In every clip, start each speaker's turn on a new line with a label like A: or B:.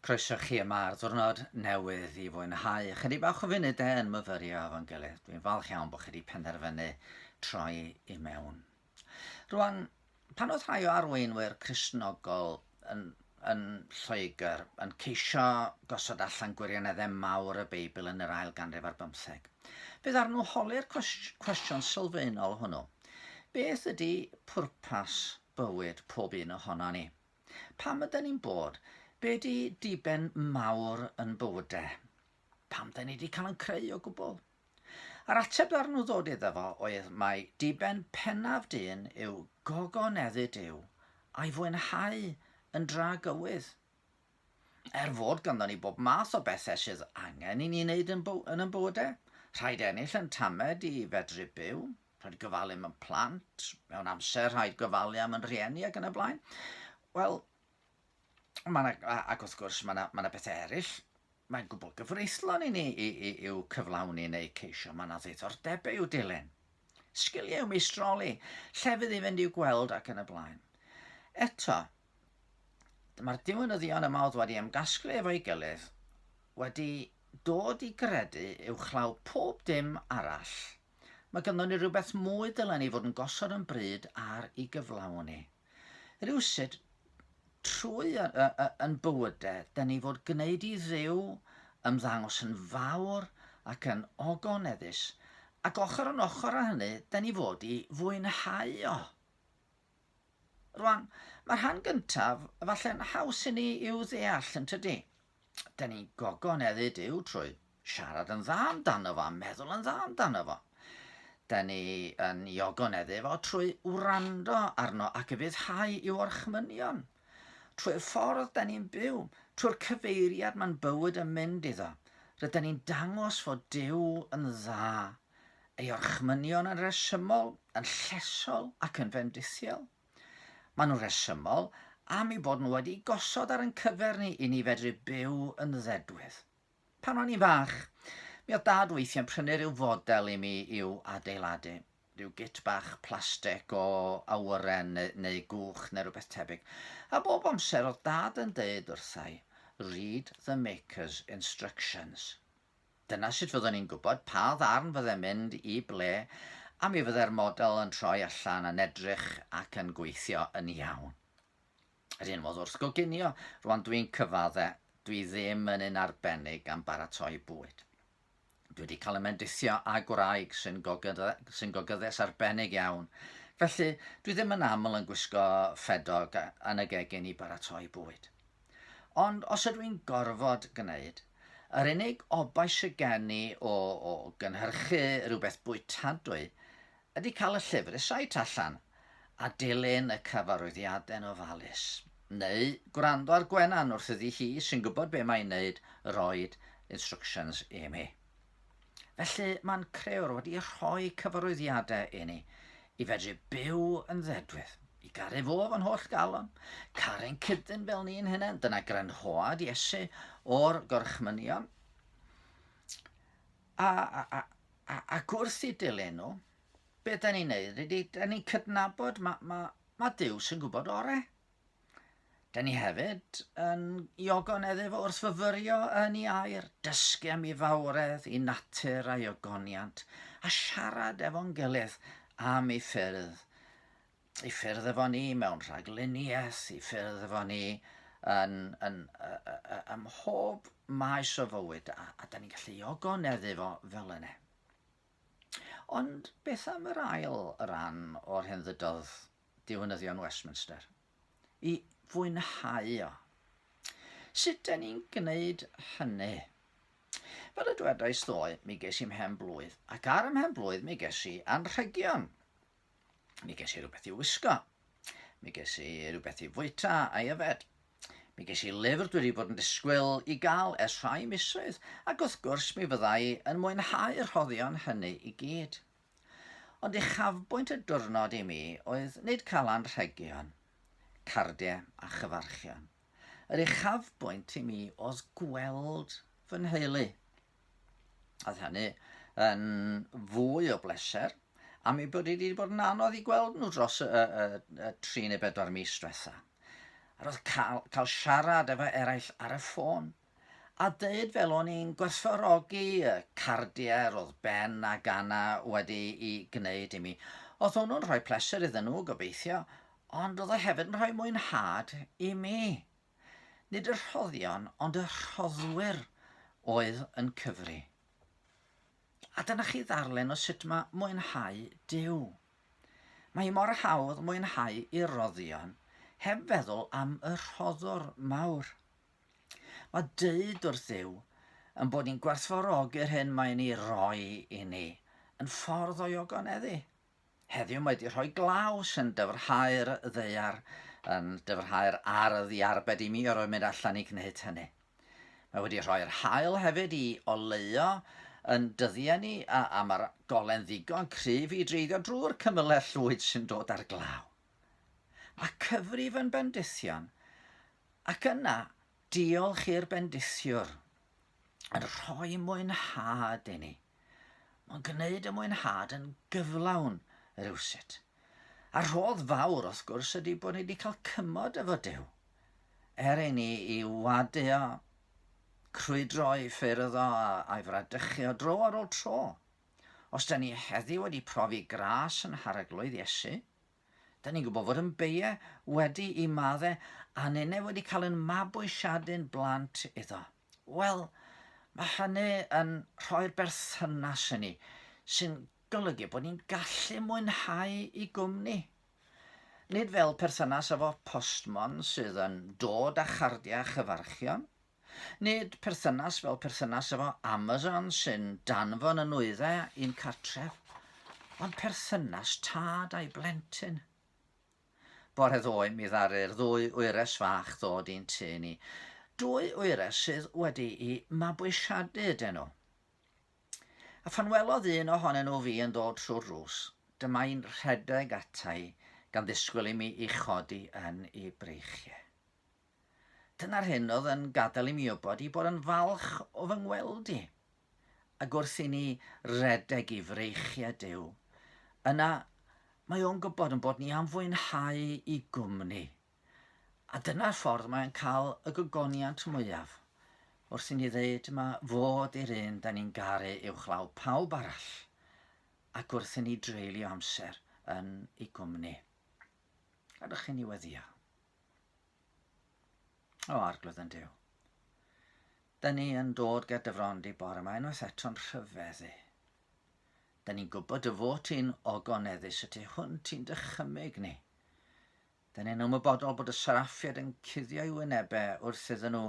A: Croeso chi yma ar ddwrnod newydd i fwynhau chydig bach o funud e yn myfyrio efo'n gilydd. Dwi'n falch iawn bod chi wedi penderfynu troi i mewn. Rwan, pan oedd rhai o arweinwyr Cresnogol yn, yn Lloegr yn ceisio gosod allan gwirioneddau mawr y Beibl yn yr ail ganrif ar bymtheg, fe ddarn nhw holi'r cwestiwn sylfaenol hwnnw. Beth ydy pwrpas bywyd pob un ohono ni? Pam yda ni'n bod? Be di diben mawr yn bywyde? Pam da ni wedi cael yn creu o gwbl? Yr ateb ar nhw ddod iddo fo oedd mae diben pennaf dyn yw gogoneddu Dyw a'i fwynhau yn dra gywydd. Er fod ganddo ni bob math o bethau sydd angen i ni wneud yn, yn ein bywydau, rhaid ennill yn tamed i fedru byw, Rhaid gofalu am y plant, mewn amser rhaid gofalu am yn rhieni ac yn y blaen. Wel, ma na, ac wrth gwrs mae yna ma na bethau eraill, mae'n gwbl gyfreithlon i ni i, i, i'w cyflawni neu ceisio, mae yna ddiddordebau i'w dilyn. Sgiliau meistroli, llefydd i fynd i'w gweld ac yn y blaen. Eto, mae'r diwynyddion yma oedd wedi ymgasglu efo'i gilydd wedi dod i gredu uwchlaw pob dim arall Mae ganddo ni rhywbeth mwy dylen ni fod yn gosod yn bryd ar ei gyflawni. Rhywsut, trwy yn bywydau, da ni fod gwneud i ddew ymddangos yn fawr ac yn ogoneddus, ac ochr yn ochr â hynny, da ni fod i fwynhau o. Rwan, mae'r rhan gyntaf falle'n haws i ni i'w ddeall, yn tydi? da ni'n gogon eddi Duw trwy siarad yn dda amdano fo a meddwl yn dda amdano fo. Da ni yn iogon eddi fo trwy wrando arno ac y fyddhau i'w orchmynion. Trwy'r ffordd da ni'n byw, trwy'r cyfeiriad mae'n bywyd yn mynd iddo, rydyn ni'n dangos fod Duw yn dda, ei orchmynion yn resymol, yn llesol ac yn fendithiol. Maen nhw'n rhesymol am eu bod nhw wedi gosod ar ein cyfer ni i ni fedru byw yn ddedwydd. Pan o'n i'n fach, mi oedd Dad weithiau'n prynu rhyw fodel i mi i'w adeiladu. Rhyw git bach plastig o awyren neu, neu gwch neu rhywbeth tebyg. A bob amser oedd Dad yn deud wrthai, 'Read the maker's instructions. Dyna sut fyddwn ni'n gwybod pa ddarn fyddai'n mynd i ble a mi fyddai'r model yn troi allan yn edrych ac yn gweithio yn iawn. Yr un modd wrth goginio, rwan dwi'n cyfadde, dwi ddim yn un arbennig am baratoi bwyd. Dwi wedi cael ymendithio â gwraig sy'n gogydde, sy gogyddes arbennig iawn, felly dwi ddim yn aml yn gwisgo ffedog yn y gegin i baratoi bwyd. Ond os ydw i'n gorfod gwneud, yr unig obaith sydd gen i o, o gynhyrchu rhywbeth bwytadwy ydy cael y llyfr y site allan a dilyn y cyfarwyddiadau'n ofalus. Neu gwrando ar Gwenan wrth iddi hi, sy'n gwybod be mae'n wneud, roed instructions i mi. Felly, mae'n Crëwr wedi rhoi cyfarwyddiadau i ni i fedru byw yn ddedwydd, i garu fo fan holl galon, caru'n cydyn fel ni'n hunain, dyna grynhoad Iesu o'r gorchmynion, a, a, a, a, a gwrth i dilyn nhw, be da ni'n neud, rydyn ni'n cydnabod mae ma, ma Dyw sy'n gwybod orau. Da ni hefyd yn iogonedd efo wrth fyfyrio yn ei air, dysgu am ei fawredd, ei natur a'i ogoniant, a siarad efo'n gilydd am ei ffyrdd. Ei ffyrdd efo ni mewn rhagluniaeth, ei ffyrdd efo ni yn, yn, ym mhob maes o fywyd, a, a da ni'n gallu iogonedd efo fel yna. Ond beth am yr ail ran o'r hyn ddydodd diwinyddion Westminster? I fwynhau o. Sut dyn ni'n gwneud hynny? Fel y dwedais ddoe, mi ges i mhen blwydd, ac ar ym mhen blwydd mi ges i anrhegion. Mi ges i rhywbeth i wisgo. Mi ges i rhywbeth i fwyta a yfed. Mi ges i lyfr dwi wedi bod yn disgwyl i gael ers rhai misoedd, ac wrth gwrs mi fyddai yn mwynhau'r rhoddion hynny i gyd. Ond uchafbwynt y diwrnod i mi oedd nid cael anrhegion, cardiau a chyfarchion. Yr uchafbwynt i mi oedd gweld fy nheulu Oedd hynny yn fwy o bleser am ei bod wedi bod yn anodd i gweld nhw dros y, y, y, y tri neu bedwar mis diwetha. A roedd cael, cael siarad efo eraill ar y ffôn a dweud fel o'n i'n gwerthfawrogi y cardiau roedd Ben a Gana wedi i gwneud i mi. Oedd hwnnw'n rhoi pleser iddyn nhw, gobeithio, ond oedd o hefyd yn rhoi mwynhad i mi. Nid y rhoddion ond y rhoddwyr oedd yn cyfri. A dyna chi ddarllen o sut mae mwynhau Duw. Mae hi mor hawdd mwynhau i roddion heb feddwl am y rhoddwr mawr. Mae dweud wrth Dduw yn bod ni'n gwerthfawrogi'r hyn mae'n ei roi i ni yn ffordd o'i ogoneddu. Heddiw mae wedi rhoi glaw sy'n dyfrhau'r ddaear, yn dyfrhau'r ardd i arbed i mi orfod mynd allan i gwneud hynny. Mae wedi rhoi'r haul hefyd i oleuo yn dyddiau ni a, a mae'r golen ddigon cryf i dreiddio drwy'r cymylau llwyd sy'n dod ar glaw. Mae cyfrif yn bendithion ac yna diolch i'r bendithiwr yn rhoi mwynhad i ni. Mae'n gwneud y mwynhad yn gyflawn rywsut. A'r rhodd fawr, wrth gwrs, ydy bod ni wedi cael cymod efo Duw. Er i ni i wadio, crwydro i ffyrdd o a'i fradychu o dro ar ôl tro. Os da ni heddi wedi profi gras yn hareglwydd Iesu, da ni'n gwybod fod yn beie wedi i madde aninne wedi cael yn mabwysiadu'n blant iddo. Wel, mae hynny yn rhoi'r berthynas i ni, sy'n golygu bod ni'n gallu mwynhau i gwmni. Nid fel perthynas efo postmon sydd yn dod â chardiau chyfarchion, nid perthynas fel perthynas efo Amazon sy'n danfon y nwyddau i'n cartref, ond perthynas tad a'i blentyn. Bore ddoe mi ddaru'r ddwy wyres fach ddod i'n tŷ ni. Dwy wyres sydd wedi'u mabwysiadu iddyn nhw. A phan welodd un ohonyn nhw fi yn dod trwy'r rws, dyma'i'n rhedeg ata i gan ddisgwyl i mi i chodi yn i breichiau. Dyna'r hyn oedd yn gadael i mi wybod i bod yn falch o fy ngweld i. Ac wrth i ni redeg i freichiau Duw, yna mae o'n gwybod yn bod ni am fwynhau i gwmni. A dyna'r ffordd mae'n cael y gogoniant mwyaf, wrth i ni ddeud mae fod i'r un da ni'n garu uwchlaw pawb arall, ac wrth i ni dreulio amser yn ei gwmni. Gadwch i ni weddio. O, arglwydd yn diw. Dyn ni yn dod gyda dyfrondi bore mae unwaith eto'n rhyfeddu. Dyn ni'n gwybod y fod ti'n ogoneddus y tu hwn ti'n dychymyg ni. Dyn ni'n ymwybodol bod y seraffiad yn cuddio i wynebau wrth iddyn nhw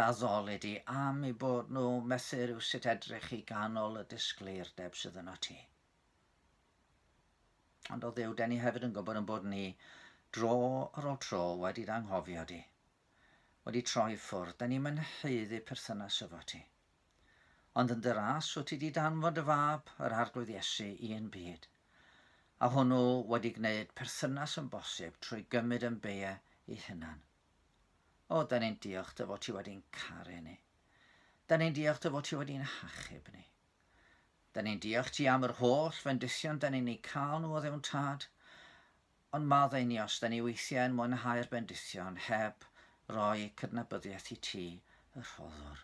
A: daddoli di am i bod nhw methu rhyw sut edrych i ganol y disgleirdeb sydd yno ti. Ond o ddew, den ni hefyd yn gwybod yn bod ni dro ar ôl tro wedi d'anghofio di. Wedi troi ffwrdd, den ni'n mynheiddu perthynas efo ti. Ond yn dy ras, wyt ti di danfod dy fab, yr Arglwydd Iesu, i un byd. A hwnnw wedi gwneud perthynas yn bosib trwy gymryd yn beie i hunan. O, den ni'n diolch dy fod ti wedi'n caru ni. Den ni'n diolch dy fod ti wedi'n hachub ni. Da ni'n diolch ti am yr holl fendithion da ni'n ei cael nhw o ddewn tad, ond maddau ni os da ni weithiau yn mwynhau'r bendithion heb roi cydnabyddiaeth i ti, y rhoddwr.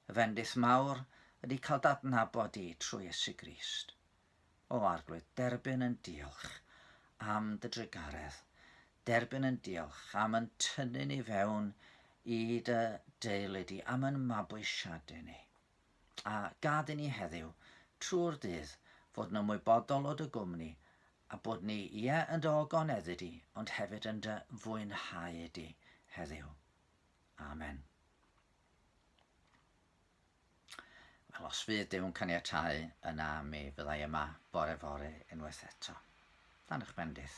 A: Y fendith mawr ydy cael dadnabod di trwy Iesu Grist. O Arglwydd, derbyn yn diolch am dy drugaredd, derbyn yn diolch am yn tynnu ni fewn i dy deulu di, am yn mabwysiadu ni. a gad i ni heddiw, trwy'r dydd, fod yn ymwybodol o dy gwmni, a bod ni, ie, yn dy ogoneddu di, ond hefyd yn dy fwynhau di heddiw. Amen. Wel, os fydd Dyw'n caniatau, yna mi fyddai yma bore fore unwaith eto. Dan eich bendith.